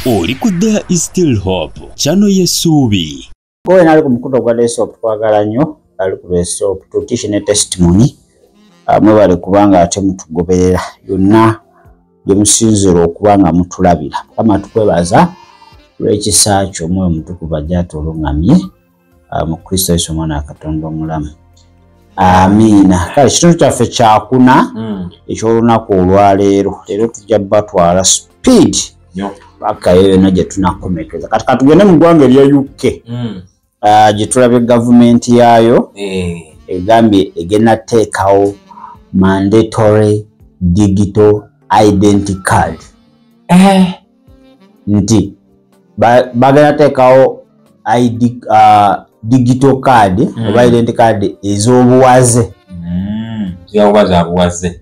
oli ku there is still hope kyano yesuubi ngowe nali ku mukuto gwa desop twagala nnyo ali ku desop tutishi ne testimony ah, mwebale kubanga ate mutugoberera yonna gyemusinzira okuba nga mutulabira mukama tukwebaza lw'ekisa kyo omwoyo mutukuvu ajja atulungamye ah, mu kristo yesu omwana wa katonda omulamu amiina kale kitundu kyaffe kyakuna hmm. ekyolunaku olwaleero leero tujja batwala speed paka eyo yona gyetunakomekeza kati katugende mu ggwanga erya uk hmm. ah, gyetulabye gavumenti yaayo eh. egambye egenda teekawo mandatory digital identity card eh. nti bagenda teekawo uh, digital card mm. oba identi card ez'obuwaze mm.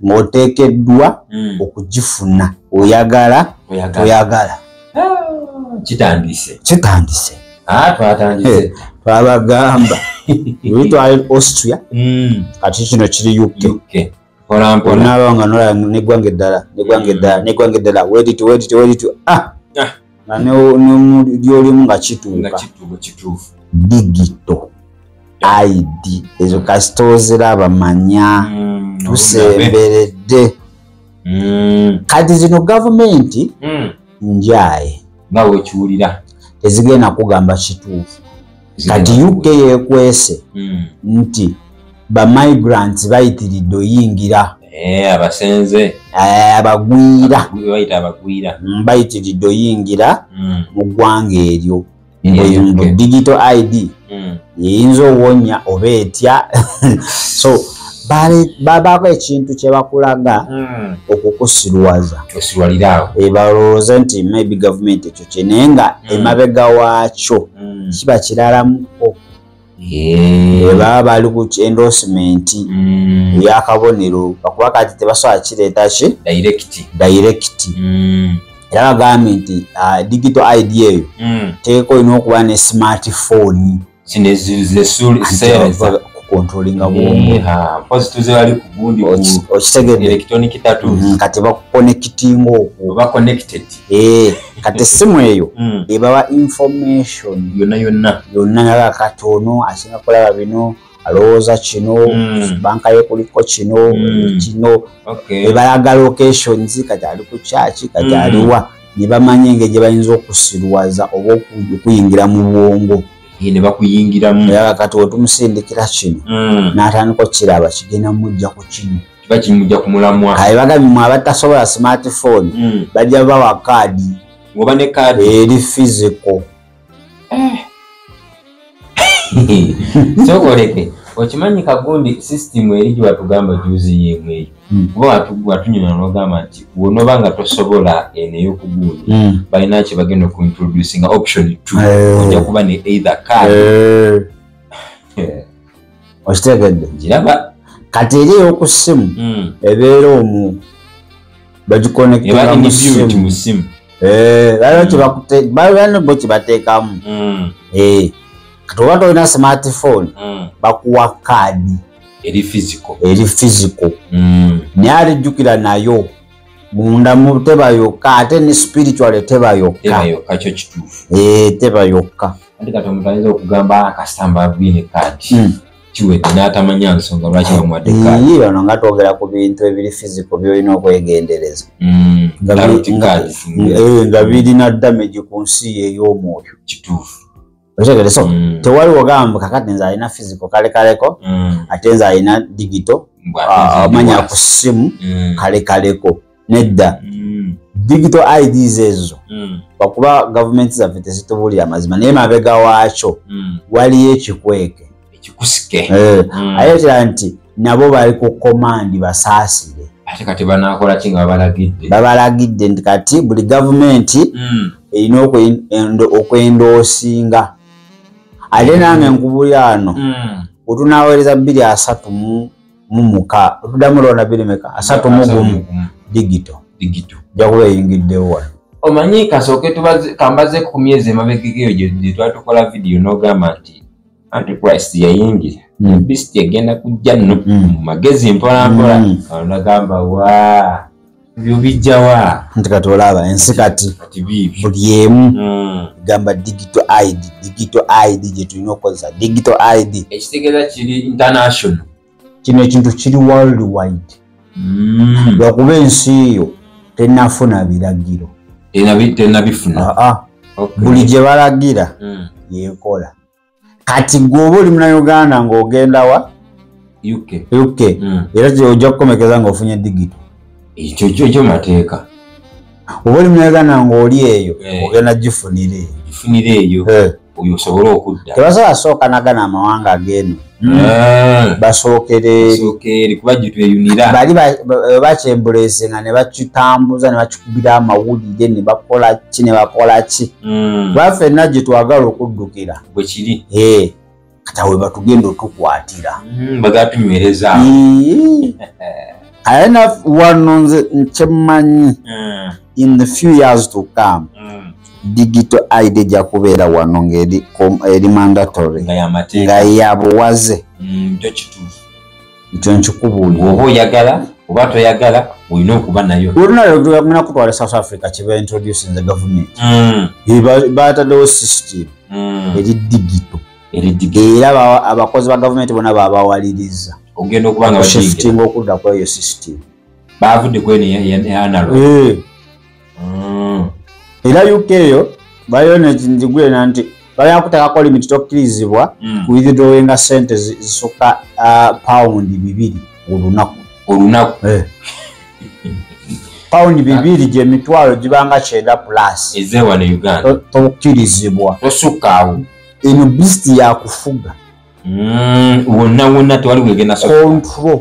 ng'oteekeddwa mm. okugifuna oyagala oyagala ah, kitandise kitandise ah, twatandise eh, twabagamba oli twali austria mm. kati kino kiri uk onaaba nga nolaba negwanga eddala negwanga mm. eddala negwanga eddala wediti wediti wediti ah! ah. nga nomulyolimu nga kituuka digito id ezo kasita oziraba manya mm, tusemberedde mm. kati zino gavumenti njaye nga wekiwulira tezigenda kugamba kituufu kati uk yekwese hmm. nti bamigrants bayitiridde oyingira eh, abasenze eh, abagwira hmm, bayitiridde oyingira hmm. mu ggwanga eryo mbu digital id yeyinza owonya oba etya so babaako ekintu kyebakulaga okukusiruwaza ebalowooze nti maybe gavumenti kye naye nga mm. emabega waakyo mm. kiba kiralamuko baba bali ku endorsement mm. eyakabonero bakuba kati tebasobola kireeta ki direct era bagambye nti ah, digital id eyo teeka olina okuba ne smartphone kati bakukonekitinga okukati esimu eyo mm. ebawa information yonna yonna yonna naga kati ono asinga kulaba bino alowooza kino hmm. banka ye kuliko kino hmm. kino ebalaga locations kati ali ku kyaki kati hmm. aliwa ne bamanya engeri gye bayinza okusiruwaza oba okuyingira mu bwongo ne bakuyingiramu aa kati wetumusindikira kino hmm. n'atandika okukiraba kigenda mujja ku kino bakimujja ku mulamwa aye bagambye mwe abatasobola smartphone hmm. bajja bawa kaadi oba ne kaadi eri fiziko sokoleke okimanyi kagundi system eri gyewatugamba juzi yemu eyo hmm. kuba watunyuma nogamba nti wonoba nga tosobola eno eyokugundi hmm. balina ki bagenda okuintroducinga option t eh. oja kuba ne either card eh. okitegedde ngiraba kati eri eyoku ssimu hmm. ebeera omu bagikonekera mu ssimu eh, balina bo kibateekamu hmm. eh, kati oba tolina smartphone hmm. bakuwa kaadi eri fiziko eri fiziko mm. naye ate jjukira nayo munda mu teba yokka ate ne spiritual teba yokka teba yokka kyo kituufu ee eh, teba yokka ate kati omuntu ayinza okugamba ah, kasita mbaviine kaadi hmm. kiwedde n'atamanya nsonga lwaki bamuwadde kaadi ono nga twogera ku bintu ebiri fiziko byolina okwegendereza hmm. eh, nga birina damage ku nsi ey'omwoyo kituufu okitegere so hmm. tewali ogamba kakati nze alina fiziko kale kaleko ate nze alina digito ah, manya ku ssimu kale kaleko nedda mm. digital ids ezo mm. bakuba gavumenti zaffe tezitubuulira amazima naye mabega waakyo mm. waliyo ekikweke ekikusike eh, mm. ayetera nti nabo bali ku komandi basaasire ate kati banakola ki nga babalagidde babalagidde nti kati buli gavumenti mm. erina okwendoosinga ate nange nkubuli ano mm. otunaweereza bbiri asatu mu mumuka otudamu lona birimeka asatu mugumu digito digito jakuba eyingiddewo wano omanyi kasooke kambaze ku myezi emabegegeyo gye twatukola vidiyo n'ogamba nti antichrist yayingira hmm. bisiti egenda kujja nno hmm. mu magezi mpolampola hmm. nagamba waa byobijjawa nti kati olaba ensi kati buli emu hmm. gamba digital id digital id gyetulina okukozesa digital id ekitegeeza kiri international kino ekintu kiri world wide hmm. lwakuba ensi eyo tenafuna biragiro tenabifuna ah, ah. buli gye balagira hmm. yekola kati gwe oba oli muna uganda ng'ogenda wa uk uk mm. era ojja kukomekeza ng'ofunye digito ekyo kyo kyo mateeka oba oli muna uganda ng'oli eyo eh. ogenda gifunira eyo gifunira eyo eh. oyo osobole okudda tebasobola sooka nagana amawanga ageeno mm. eh. basookereeri kuba gitweyunira bali bakyembuleesinga ne bakitambuza ne bakubira amawulire ne bakola ki ne bakola ki mm. ba fenna gye twagala okuddukira bwe kiri eh, kata we batugenda otukwatira mm, bagatunywereza aye na wano nze nkyemanyi mm. in the few years to come mm. digital id ejja kubeera wano ngaeri mandatory nga yabuwaze mm, ekyo nkikubuulira oba oyagala oba toyagala olina okuba nayo olunalagenda kutwala south africa kyeba introduce the government mm. bataddewo system mm. eri digito era abakozi ba gavumenti bona babawaliriza okushiftinga okudda kweyo system baavudde kweno eyanalo eh. mm. era uk eyo baliyo nekigwena nti balina kutekako limiti tokkirizibwa mm. kuidrowenga sente zisukka uh, paundi bibiri olunaku olunaku eh. paundi bibiri gyemitwalo gibanga kyenda plus ezewano uganda tokkirizibwa tosukkaawo eno bisiti yakufuga mm, wonna wonna tewali wegenda control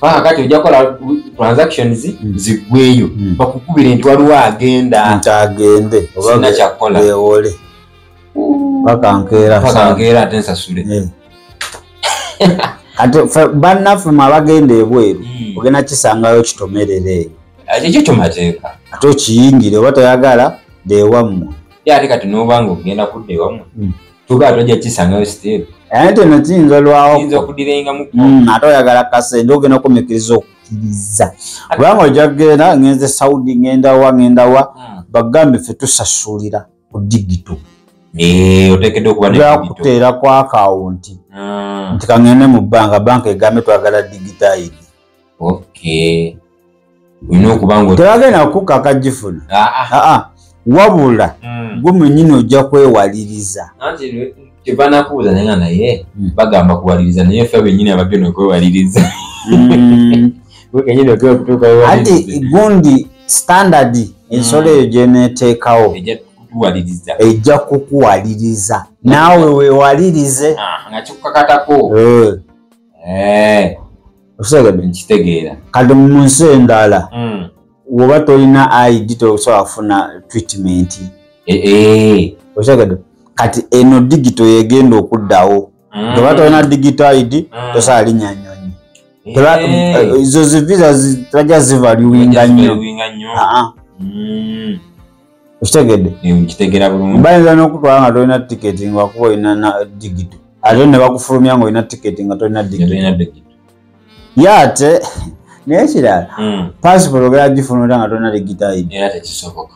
paka kati ojja kukola transactions hmm. ziggweyo hmm. bakukubire nti waliwo agenda nti agende oba kyakkola beewole paka nkeera paka nkeera ate nsasule hmm. kati bannaffe mwe abagenda ebweru hmm. ogenda kisangayo kitomerere eyo ekyo kimateeka ate okiyingire oba toyagala deewammwe ate kati nobanga ogenda kudda ewammwe hmm. tugaa tojja kisangayo siteeru naye nti no kiyinza olwawoyinza okudirengamu mm, ate oyagala kasente ogenda okumikkiriza okukkiriza kubanga ojja kugenda ngenze saudi ngendawa ngendawa mm. bagambe ffe tusasulira ku digito eh, otekeddeokubakuteera ku akawunti mm. nti kangende mu bbanga banka egambe twagala digitaidi okay olina okuba nga tebagenda kukka akagifuna ah, ah. ah, wabula hmm. gwe mwenyini ojja kwewaliriza kyebanakubuuza naye nga naye hmm. bagamba kuwaliriza naye fe benyini ababyo nokwewaliriza hmm. ati gundi standard ensolo eyo gyeneteekawo ejja kukuwaliriza naawe wewalirize nga kikukakatako eh. okusaaga bino kitegeera kati mu nsi endala hmm. woba tolina id tosobola kufuna treatment eh, eh. okitegedde kati eno digito yegenda okuddawo hmm. toba tolina digito id hmm. tosobola linya nyonyi eh. ezo zivisa tebajja zivaluwinga nnyo ah, ah. okitegedde nkitegera bulungi bayinza n'okutwala nga tolina tiketi ngakuba olina na digito ate ne bakufulumya nga olina tiketi nga tolina digito ye ate naye kirala hmm. pasipoti ogera gifuna ota nga tolina digitaidi era tekisoboka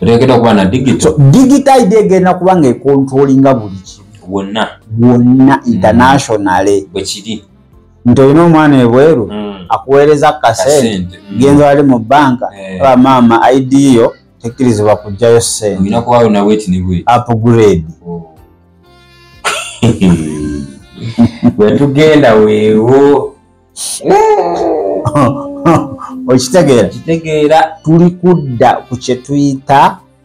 otegeda okuba na digito digitaidi egenda kuba nga ekontrolinga buli kimu wonna wonna hmm. internationale bwekiri nti olina omwana ebweru mm. akuweereza kasente mm. genza wali mu banka eh. aba maama id yo tekkirizibwa kugjayo sente upgrade oh. wetugenda weewo okitegeera tuli kudda ku kyetuyita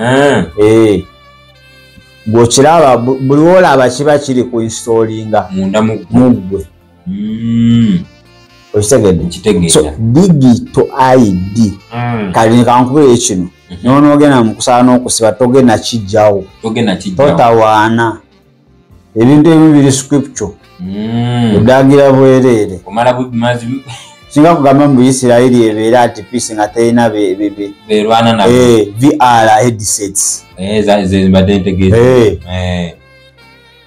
eh. eh. bwokiraba buli wolaba kiba kiri ku instolinga munda muggwe hmm. okitegedde so digito id hmm. kali nekankubire kino mhm. nonogenda mukusala nokusiba togenda kijjawo totawaana ebintu ebimu biri scripture mm. odagira bwereere singa kugamba mu isirairi ebeera ati peace nga terina berwana na eh, vr headsets eh, eh.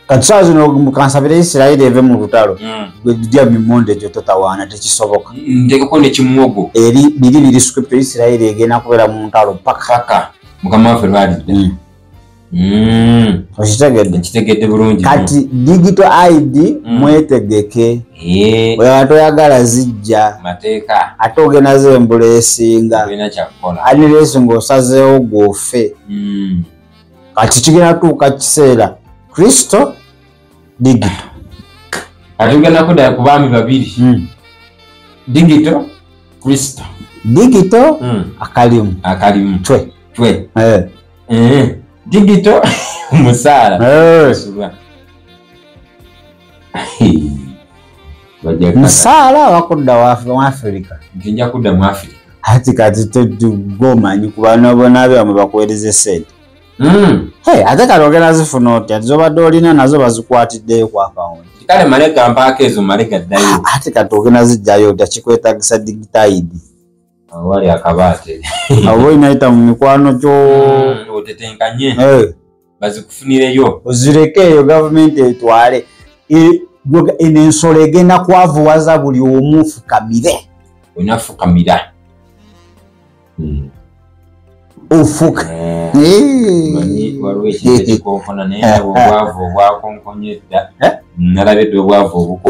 kati saa zino mukansabira isirairi eve mu lutalo mm. gwedudya mimonde egyo totawaana tekisoboka mm, ntekeko nekimuwogo eri biri biri scripture isirairi egenda kubeera mu ntalo paka mukama waffe lwalidde mm. Mm. okitegedde nkitegedde bulungi kati digital id mm. mwetegeke eh. weba toyagala zijja mateeka ate ogenazo embula esinga aniresi ngaosazeewo gwofe mm. kati kigenda tuuka kiseera kristo digital kati ogenda kudaya ku baami babiri mm. digital kristo digital mm. akalimu akalimu twe twe eh. Eh, digital musaala Eh, Subwa. Bajja- musaala wakudda wa- mu afirika nti nja kudda mu afirika hati kati tegomanyi kubana bona byamwe bakuwereze sente Mm. Hey, ate kati ogenda zifuna otya Ati zobadde olina nazo bazikwatiddeyo ku akawunti kale male gampaako ezo male gaddayo ate kati ogenda zijjayo otya kikwetagisa digitayidi wali akabaate abo inayita mu mikwano gyo mm, otetenkanye eh. bazikufunireyo ozireke eyo gavumenti etwale eno ensolo egenda kwavuwaza buli omu fukamire onafukamira mm. ofuka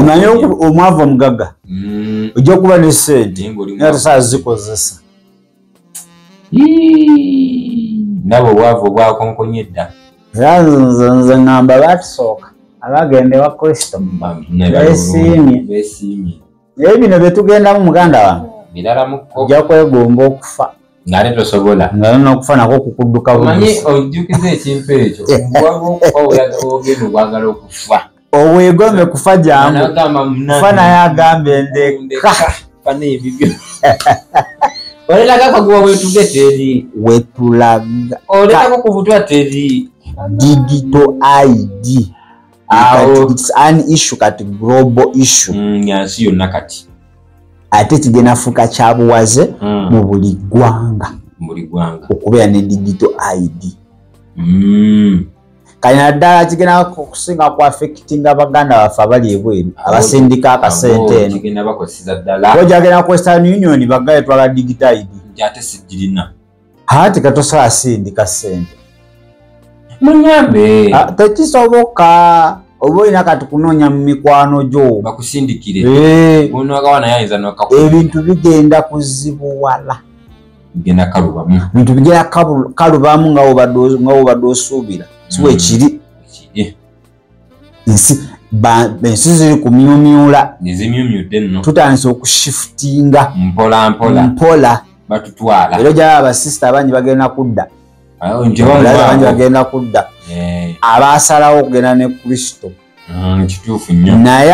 naye omwavu omugaga mm. ojja okuba ne sente natesaa zikozesa nabo obwavu obwakonkonya edda era nze ngamba batusooka abagenda ewa kristo besiimye naye bino byetugendamu muganda wange ojja kwegomba okufa ng'ate tosobola ngalo n'okufa nako okukudduka omanyi ojjukiza ekintu ekyo waliwo okuba ogenda okwagala okufa obwegome kufa jangu kufa naye agamba endeka oleraga kaguba wetuge teri wetulaga oleraga okuvutwa teri digito id yansi yonna kati ate kigenda fuuka kyabuwaze mm. mu buli ggwanga okubeera ne digito id mm. kati naddala kigenda okusinga ku affectinga baganda baffe abali ebweru abasindika akasente eno ojagenda ku western union bagaye twala digito id hati katosobola sindika sente munyambe ah, tekisoboka oba olina kati kunoonya mu mikwano gyo bakusindikire eh. ebintu bigenda kuzibuwala bigenda kalubamu bintu bigenda kalubamu nga wobadde osuubira siwekiri mm. ensi ziri ku myumyula tutandise okushifutinga mpola era ojaba abasista abangi bagenda kudda abangi bagenda kudda eh. abasalawo okugenda ne kristo mm, naye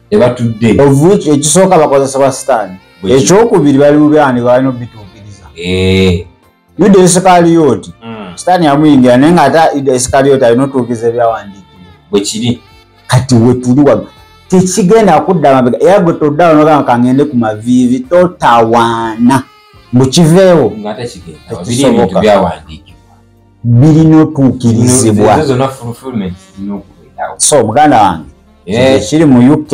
tebatudde of which ekisooka bakozesebwa sitaani ekyokubiri bali mu byani balina obituukiriza eh. yuda esikaliyoti hmm. sitaani yamuyingira naye nga ate yuda esikaliyoti alina otuukiriza ebyawandiikibwa bwekiri kati wetuli wano tekigenda kudda mabega era gwe toddawo nogamba kangende ku maviivi totawaana mbukiveewo tekisoboka birina otuukirizibwa so muganda wange ekiri mu uk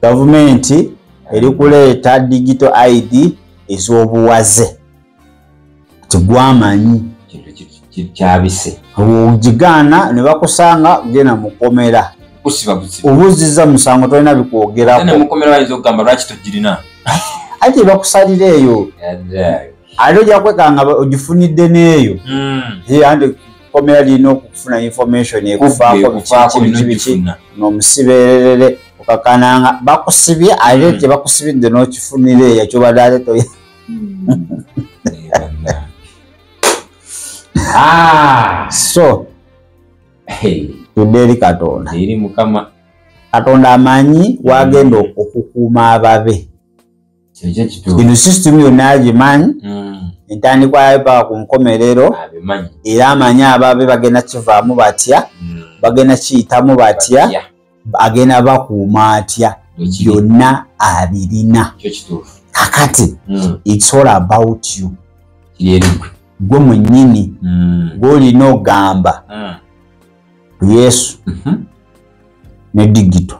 gavumenti eri kuleeta digito id ez'obuwaze ti gwamanyi kyabise ogigaana ne bakusanga genda mukomera obuziza musango tolina bikwogerako ati bakusalira eyo ate ojja kwekanga ogifunidde n'eyo hmm. ye andi komera lirina okufuna information ekuvaako bikiiki biki biki n'omusibeererere okakananga bakusibye ate hmm. tebakusibidde n'okifunira eyo kyobadde ate toye hmm. ah! so tudde eri katonda eri mukama katonda amanyi wagenda okukuuma ababe eno system yonna agimanyi mm. entandikwa yayo paka ku nkomerero era amanyi ababe bagenda kivaamu batya mm. bagenda kiyitamu batya agenda bakuuma atya byonna abirina kakati mm. its all about you gwe mwenyini gwolina ogamba yesu mm-hmm. ne digito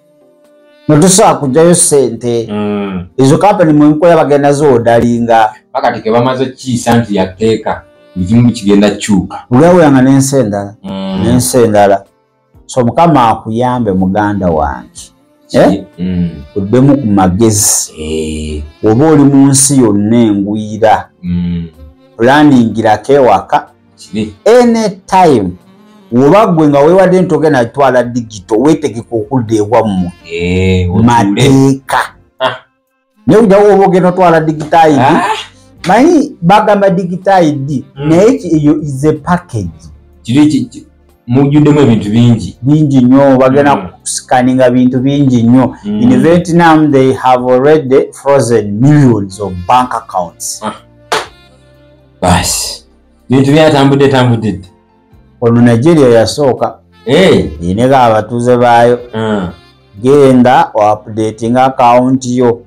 notusobola kujjayo sente mm. ezo kampani mwenkola bagenda zoodalinga bakati kebamaze kiisa nti yateeka ekimu kigenda kyuka olyawulanga nensi endala mm. nensi endala so mukama akuyambe muganda wange eh? mm. oddemu ku magezi eh. oba oli mu nsi yonna engwira pulaaningirako ewaka anytime woba gwe nga wewadde nti ogenda twala digito wetegeka okudda ewammwe eh, mateeka ah. naye ojawo oba ogenda otwala digitaidi ah. manyi bagamba digitaidi hmm. naye eyo is a package mujjuddemu ebintu bingi bingi nnyo bagenda hmm. kusikaninga bintu bingi nnyo hmm. in vietnam they have already frozen millions of bank accounts ah. basi bintu byatambudde tambudde ddi ono nigeria yasooka ineko eh. abatuuze baayo ah. genda oapudatinga akawunti yo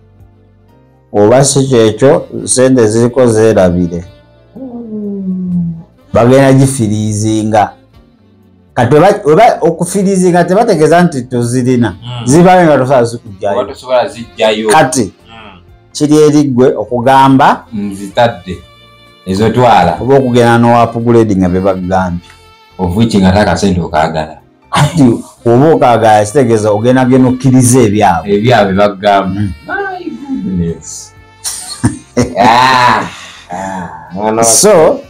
oba si kyekyo sente ziriko zeerabire hmm. bagenda gifiriizinga kati oba okufirizi nga tebategeeza nti tozirina hmm. zibawe nga tosobola zikujjayo kati hmm. kiri eriggwe okugamba nzitadde ezotwala oba okugenda nowapuguledi nga bebagambye ovuki nga takasente okagala kati oba okagala kitegeeza ogenda genda okkiriza ebyabwe ebyabwe bagamba hmm. ah, ah, so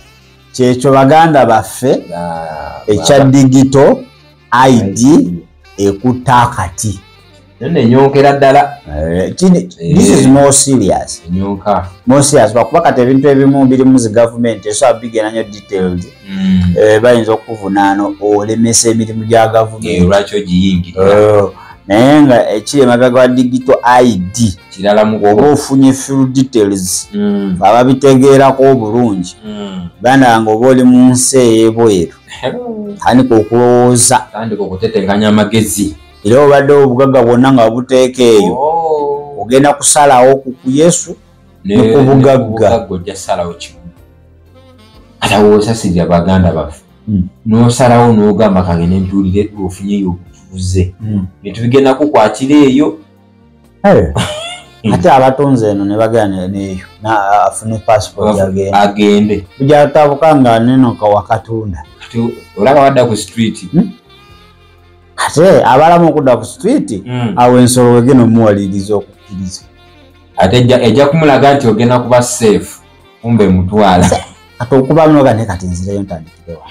kyekyo baganda baffe ah, ekya digito id ekutta akati nenyokera ddala eh, eh. bakuba kati ebintu ebimu biri muzi gavumenti esoa bigera nyo detailed mm. eh, bayinza okuvunaana olemesa emirimu gya gavumenti naye nga ekiri emabega wa digito id oba ofunye fil details mm. ababitegeerako obulungi mm. ganda nga oba oli mu nsi eyebweru tandika okulowooza tandika okutetenkanya amagezi era obadde obugagga bwonna nga buteeka eyo oh. ogenda kusalawo ku yesu nekubugagga ojja salawo kimu alawooza sirya baganda baffe hmm. nosalawo nogamba kange nentuulire ofunyeyo obutuuze hmm. netubigenda kukwatira eyo eh. hmm. ate abatonze eno nebagana neyo afune passport agende ujatabuka nga nenoka wakatunda olaba wadda ku street ate abalamu okudda ku street awo ensolo wegena omuwaliriza okukkiriza ate ejja kumulaga nti ogenda kuba safe kumbe mutwala kati okuba noga ne kati nzireyo ntandikirewa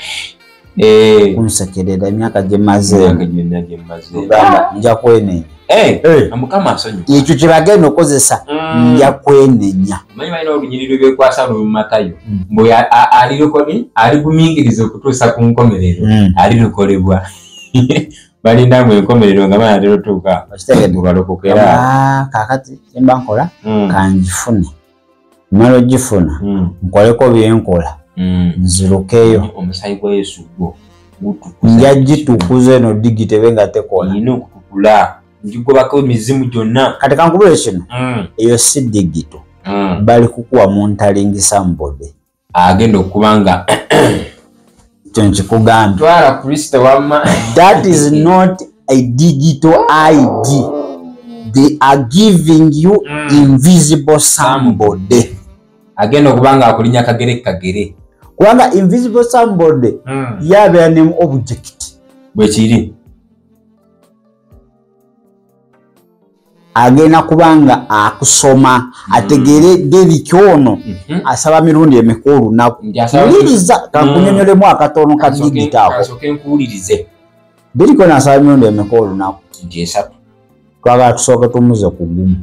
eh. kunsekerera emyaka gyemazeogamba nja kwenenya eh, eh. ekyo kyebagenda okozesa mm. nja kwenenya aligumingiriza mm. okutuusa ku nkomerero mm. alirukolebwa balindamu enkomerero nga banatera otuuka mubalokokera ah, kakati embankola kanjifune mala ogifuna hmm. nkoleko byenkola hmm. nzirukeyo omusayi gwa yesu gwo nja gitukuza eno digitebe nga tekola ina okutukula ngigobako emizimu gyonna kati kankubule kino hmm. eyo si digito bali kukuwa muntalingisa mubode agenda okuba nga kyo nkikugambye twala kristo wamma that is not a digital id they are giving you mm. invisible somebody agenda okuba nga akulinya kagere kagere kubanga invisible somebody mm. yabeera ne object bwekiri agenda kubanga akusoma mm. ategeere deriki ono mhm. asaba mirundi emeka olunaku wuliriza kankunyonyolemu mm. akatono ka digiti ako deriki ono asaba mirundi emeka olunaku twagala tusooke tumuze ku gumu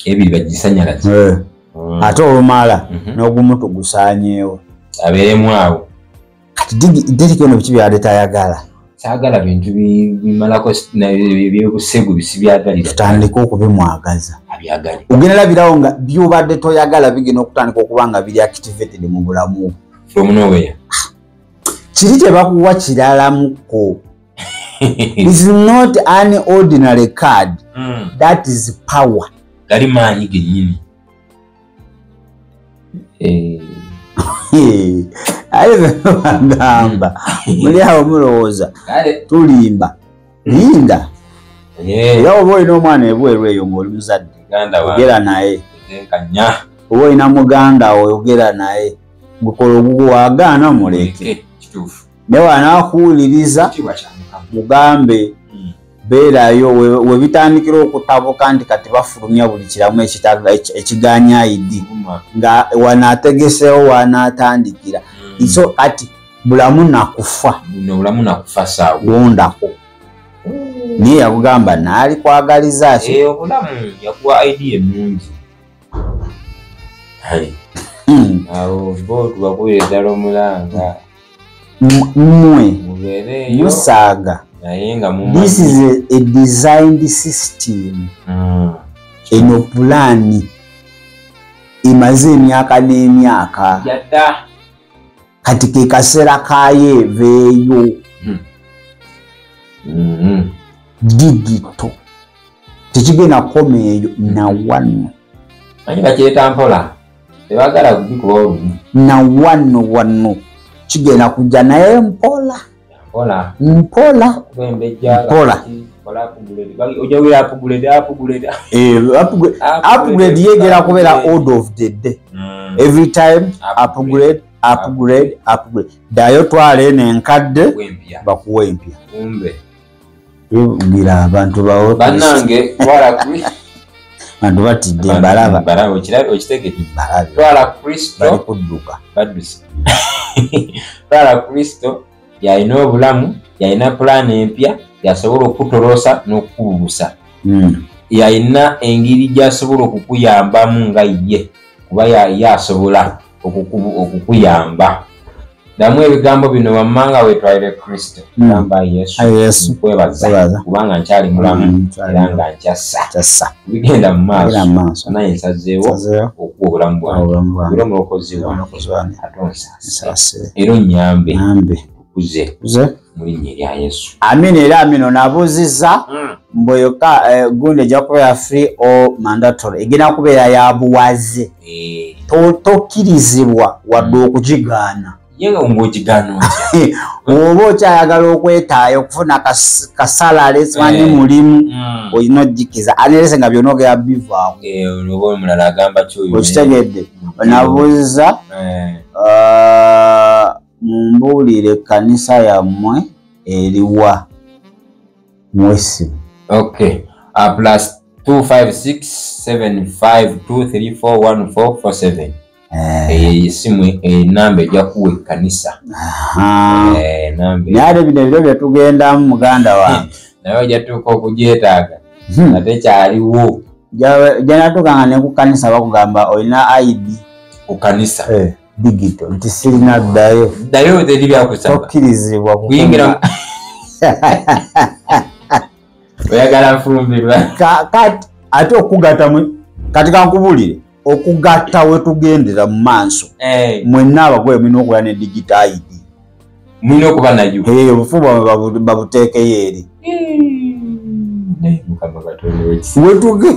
ebiri bagisanyalaze eh. mm. ate olumala mhm. n'ogumu tugusanyeewo abeeremu awo kati deriki ono biki byabadde tayagala saagala bintu bimalako byebusegu bisibyagalira tutandike okubimwagaza abyagale ogenda labirawo nga byobadde toyagala bigenda okutandika okuba nga biri activated mu bulamu from nowhere ah, kiri tebakuwa kiralamuko is not an ordinary card mm. that is power gali maanyi genyini Eh. aye bagamba muli awo mulowooza tulimba linda eh. era oba olina omwana ebweru eyo ngaoli muzadde ogera naye oba olina muganda oyogera naye gukola ogugu wagaana muleke naye wanakuwuliriza mugambe hmm. beerayo webitandikira okutabuka nti kati bafulumya buli kiramu ekiganya idi nga wanategesewo wanatandikira hmm. so kati bulamu nakufa wondako naye yakugamba naali kwagaliza ki eh, obulamu yakuwa idea enungi hmm. awo bo tubakuwira ddala omulanga mmwe musaaga this is a, a designed system mm. eno pulaani emaze emyaka n'emyaka kati ke kaseera kayo eveeyo hmm. mm-hmm. digito tekigenda kukoma eyo nawano naye nga kyetampola tebagala kubikuba olumu na wano wano kigenda kujja naye mpola mpola mpola mpola upgrade yegera kubeera old of the day mm. every time upgrade upgrade upgrade dayo twala eno enkadde bakuwa empya bwira abantu bawo banange twala kuri bantu batidde mbalaba mbalaba okiraba okitegeke mbalaba twala kristo bali kudduka baduse twala kristo yalina obulamu yalina pulaani empya yasobola okukutoloosa n'okukubuusa hmm. yalina engeri gyasobola okukuyambamu nga ye kuba yasobola okukuyamba damu ebigambo bino wammanga wetwalire kristo hmm. gamba yesu kwebaza kubanga nkyali mulamu hmm, era nga nkyassa bigenda mu maaso naye nsazeewo okuwa obulamu bwange era omulokozi wange ate onsasire era onyambe amina era amino nabuuziza hmm. mbu yoka eh, gundi ejja kubeera free o mandatory egenda kubeera ya buwaze eh. tokkirizibwa wadde hmm. okugigaana oba okyayagala okwetaayo okufuna kasalale simanyi eh. mulimu hmm. olina ogikiza anerese nga byona ogera bivaamu okitegedde nabuuziza ah, mumbuulire ekkanisa yammwe eriwa mwesi ok uh, plus 256752341447 eh. eyo eyisimu enamba eh, ejja kuwa ekkanisa eh, naye ate bino ebiro bye tugendamu muganda wange naye ojja tuuka okugyetaaga hmm. ate kyaliwo janatuukanga ne ku kkanisa bakugamba olina id ku kkanisa digito nti sirina ddayo ddayo teri byakusaba tokkirizibwa kuyingira oyagala nfumbirwa kati ate okugata kati kankubulire okugatta wetugendera mu maaso eh. mwenna abagole mulina okuba ne digito id mulina okuba nayo eh, obufu bwamwe babuteekeyo eri hmm. wetuge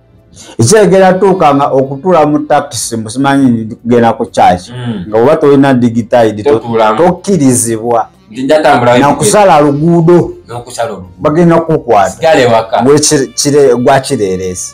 ekyegera tuuka nga okutula mu takisi musimanyi kugenda ku kyaki hmm. nga oba tolina digitide tokkirizibwa nakusala luguudo bagenda kukwatagwakireeresi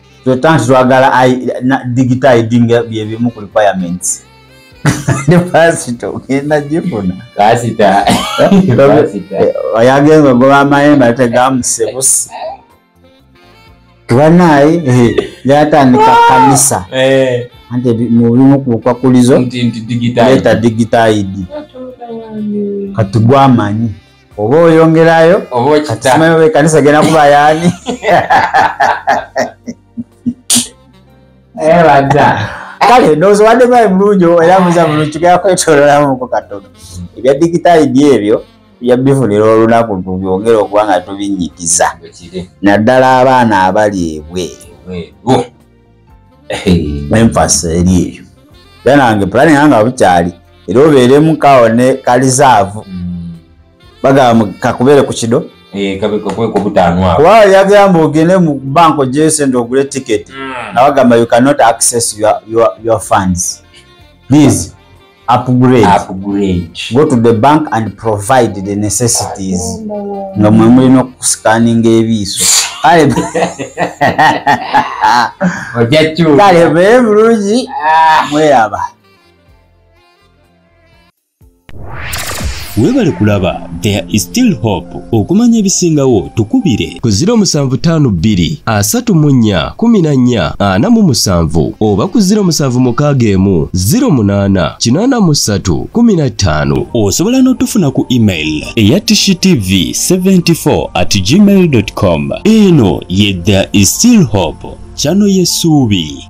tweta nti twagala digita idinga byebimu ku requirements ne pasita ogenda gifuna pasita oyagenza eh, ogoba amayembe ate gamusebusi banaye eh, yatandika ah! kanisa eh. anti mubimu kubukwakkulizo leta digita id kati gwamanyi oba oyongerayo obaokitamayo ekanisa genda kuba yaani ebadda eh, kale ndowooza obadde mayi mulungi era muza mulungi tugenda kwetololamuko katono ebya digitayidi ebyo tujja bifunira olunaku tubyongere okuba nga tubinnyikiza naddala abaana abali ebweru emphasis eri eyo era nange pulani yange abukyali era obeeremu kawone kalizaavu mm. bagamba kakubeere ku kido eh, kuba yagamba ogende mu bank ojeyo sente ogule ticket mm. nabagamba you cannot access your, your, your funds please upgrade, upgrade. go to the bank and provide the necessities nga mwe mulina okusikaninga ebiiso kale bee bulungi ah. mweraba webale kulaba there is still hope okumanya ebisingawo tukubire ku 0752 asatu mu nnya kumi na nnya ana mu musanvu oba ku 07 mukaaga emu 08 kinaana mu ssatu kumi na ttaano osobola n'otufuna ku email eya tshitv 74 at gmail com eno ye there is still hope kyano yesuubi